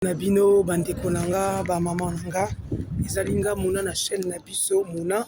na bino bandeko na nga ba mama na nga ezali nga mona na chaîne na biso mona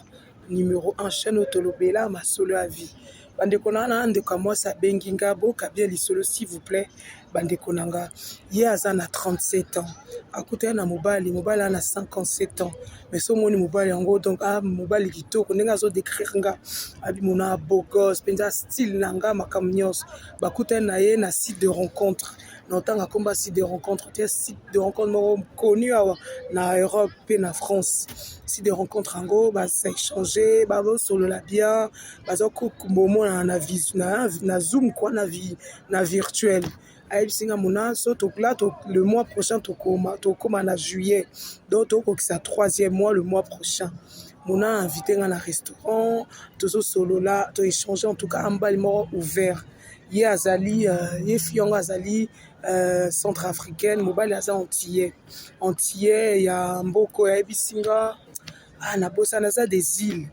numero 1 chaîne oyo tolobela masolo ya vie bandeko na na ndeko ya mwasi abengi nga boka bien lisolo s'il vous plaît bandeko na nga ye aza na 37 ans akutani na mobali mobali aza na 57 ans mais so omoni mobali yango donc a ah, mobali kitoko ndenge azo décrire nga abimona bogos mpenza style na nga makambo nyonso bakutani na ye na site de rencontre na otanga komba site de rencontre te site de rencontre moko connu awa na europe mpe na france site de rencontre yango baséchange bazosolola bien bazokomonana na visu na zoom kua na virtuel ayebisi nga mona so tokla to, le mois prochain tokoma tokoma na juillet donc tokokisa troisième mois le mois prochain mona invité nga na restaurant tozosolola toéchange en tout cas ambali moko ouvert ye azali ye fi yango azali uh, centre africaine mobali aza antillais antillais ya mboko yayebisi nga ah, nabosani aza des îles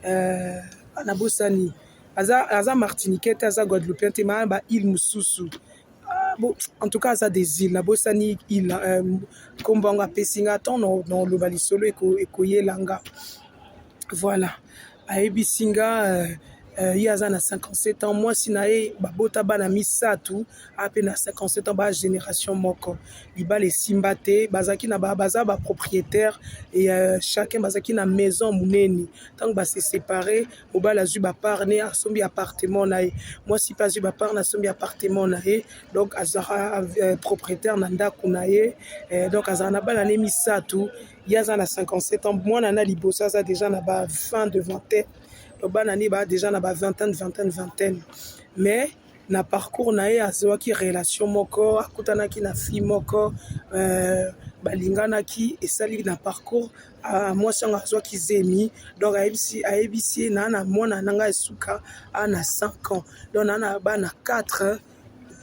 uh, ah, nabosani aza, aza martiniquais te aza guadeloupien te maa ba île mosusu ah, Bon, en tout cas aza des îles nabosani île euh, nkombo yango apesi nga ntango noloba lisolo ekoyela nga voilà ayebisi nga euh, ye aza na 57 ans mwasi na ye babota bana misato ape na 57 ans ba génération moko libala esimba te bazalaki na baza ba propriétaire e euh, chacun bazalaki na maison monene ntango base sépare mobali azwi bapart ne asombi appartement na ye mwasi mpe azwi bapart na asombi appartement na ye donc azalaka euh, propriétaire na ndako na ye donc azalaka na bana ne misato ye aza na 57 ans mwana na liboso aza deja na ba 20 de vingtaine donc bana nde baa deja na ba vingtaine vingtaine vingtaine mais na parcours na ye azwaki relation moko akutanaki na fille moko euh, balinganaki esali na parcours uh, mwasi yango azwaki zemi donc ayebisi ayebisi ye naa na mwana na ngai esuka a na 5 ans donc naa na bana 4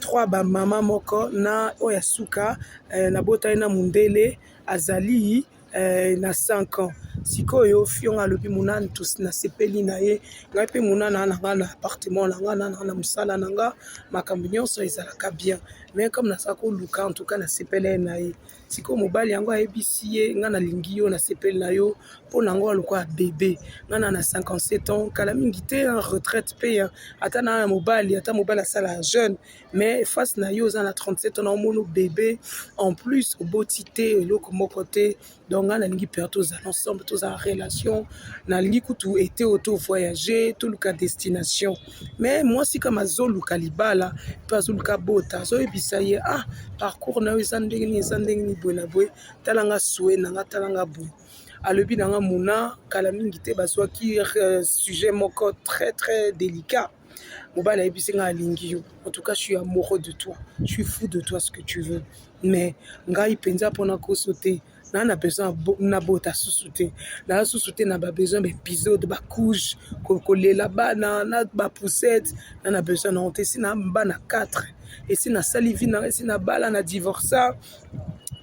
3 bamama moko na oyo ya suka eh, nabotali na mondele azali eh, na 5 ans sikoyo fionga alobi monana nasepeli na ye ngai mpe monana na ngai na appartement na ngai nana na mosala na ngai makambo nyonso ezalaka bien mais comme naza koluka en tout cas nasepeli ye na ye sikoyo mobali yango ayebisi ye ngai nalingi yo nasepeli na yo mpo na yango alokola bebe ngai na na 57 ans kala mingi te retraite mpe ata na ya mobali ata mobali asala jeune mais face na yo oza na 37 ans naomono bebe en plus oboti te eloko moko te donc ngai nalingi père tozala ensemble tozala relation nalingi kutu ete oyo tovoyage toluka destination mais mwasi kama azoluka libala mpe azoluka bota azoyebisa ye ah parcours na yo eza ndenge nini eza ndenge nini boye na boye tala nga sue na nga tala nga boye alobi na nga muna kala mingi te bazwaki euh, sujet moko très très délicat mobali ayebisi ngai alingi yo en tout cas je suis amoureux de toi je suis fou de toi ce que tu veux mais ngai mpenza mpo na koso te naa na besoin nabota susu te naa susu te na babesoin baepisode bacouche kolela bana na bapoussette na na besoin nango te esi na bana 4 esi nasali vi nanga esi nabala na divorsa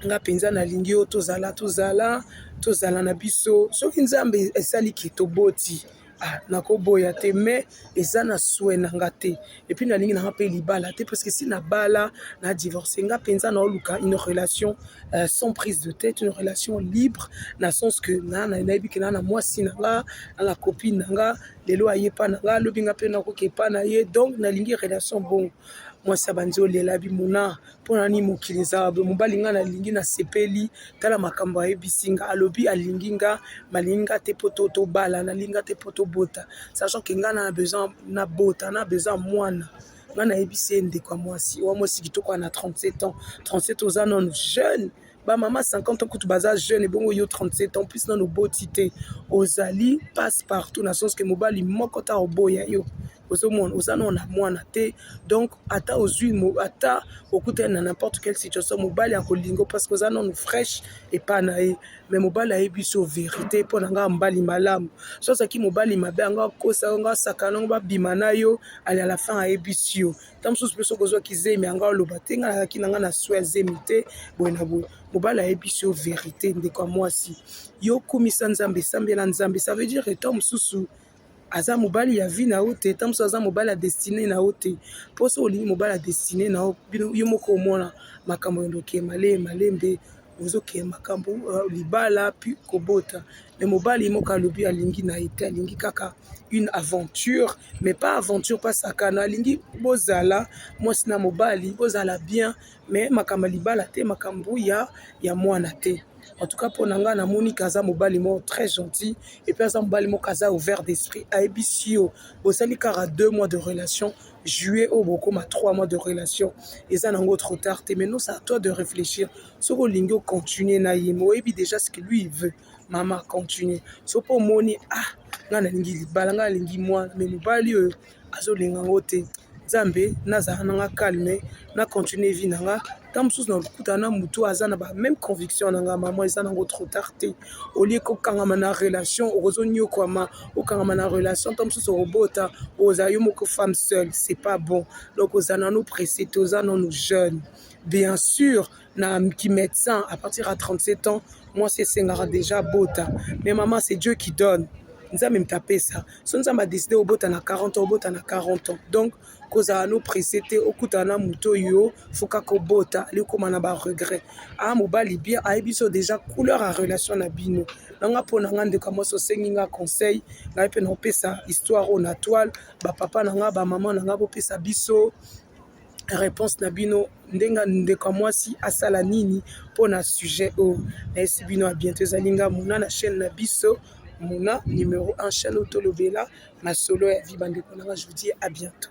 nga mpenza nalingi yo tozala tozala tozala na biso soki nzambe esali ke toboti Ah, nakoboya te mais eza na swe na nga te epuis nalingi nanga mpe libala te parce que si nabala na divorce nga mpenza naoluka une relation euh, sans prise de tête une relation libre na sens que nayebi ke naa na mwasi na nga na na copine na nga lelo aye epa na nga alobi nga mpe nakoki epa na ye donc nalingi relation bongo mwasi abanzi olela bimona Mpo na nini mokili ezala boye? Mobali ngai nalingi, nasepeli, tala makambo ayebisi nga, alobi alingi nga, malingi nga te mpo tobala, nalingi nga te mpo tobota, sachant que ngai na besoin na bota, na besoin mwana ngai nayebisi ye ndeko ya mwasi oyo mwasi kitoko ana 37 ans 37 oza nano jeune bamama 50 ans kutu baza jeune ebongo yo 37 ans plus nano oboti te ozali passe partout na sens ke mobali moko ta oboya yo ozomona oza nao na mwana te donc ata ozwi ata okutani na n'importe quelle situation mobali akolingo parce que oza nanu fraîche epa na ye mais mobali ayebi so verité mpo na ngai mbali malamu so azalaki mobali mabe yango akosa yango asakana yango babima na yo ali à la fin ayebisi yo ntango mosusu mpe soki ozwaki zemi yango aloba te ngai nazalaki na ngai na soi ya zemi te boye na boye mobali ayebisi yo verité ndeko ya mwasi yo kumisa nzambe esambela nzambe ça veut dire etant mosusu aza mobali ya vie na yo te ta mosusu aza mobali ya destine na yo te mpo soki olingi mobali ya destine na yo bino yo moko omona makambo ya ndoki malembe malembe ozokee makambo euh, libala puis kobota mais mobali ye moko alobi alingi na ye te alingi kaka une aventure mais pas aventure pas sakana alingi bozala mwasi na mobali bozala bien mais makambo ya libala te makambo ya ya mwana te En tout cas mpo na ngai namoni ke aza mobali moko très gentil et puis aza mobali moko aza ouvert d'esprit ayebisi yo bosali kaka deux mois de relation juillet oyo bokoma trois mois de relation eza nango trop tard te maintenant c'est à toi de réfléchir soki olingi ocontinue na ye mais oyebi déjà ce que lui il veut mama continue so mpo omoni ah ngai nalingi libala ngai nalingi mwana mais mobali oyo azolinga ngo te nzambe nazala na nga calme na continue vie na nga ta mosusu na lokutana na motu aza na ba même conviction na nga mama eza nango trop tard te olie kokangama na relation okozonyokwama okangama na relation ta mosusu okobota ozala yo moko femme seule c'est pas bon donc ozala nano presse te oza nano jeune bien sûr na ki médecin à partir ya 37 ans mwasi esengaka déjà abota mais maman c'est dieu qui donne nzambe moto apesa so nzambe adeside obota na 40 ans obota na 40 ans donc kozala no presse te okutana na moto oyo fuka kobota likoma na baregret a ah, mobali bien ayebi so déjà couleur ya relation na bino nanga mpo na nga ndeko mwasi osengi nga conseil ngai mpe naopesa histoire oyo na toile bapapa na nga bamama na nga bopesa biso réponse na bino ndenga ndeko ya mwasi asala nini mpo na sujet oyo nayesi bino ya bientôt ezali nga muna na chaîne na biso muna numero 1 chaîne oyo tolobela masolo ya vie bandeko nanga je vous dis à bientôt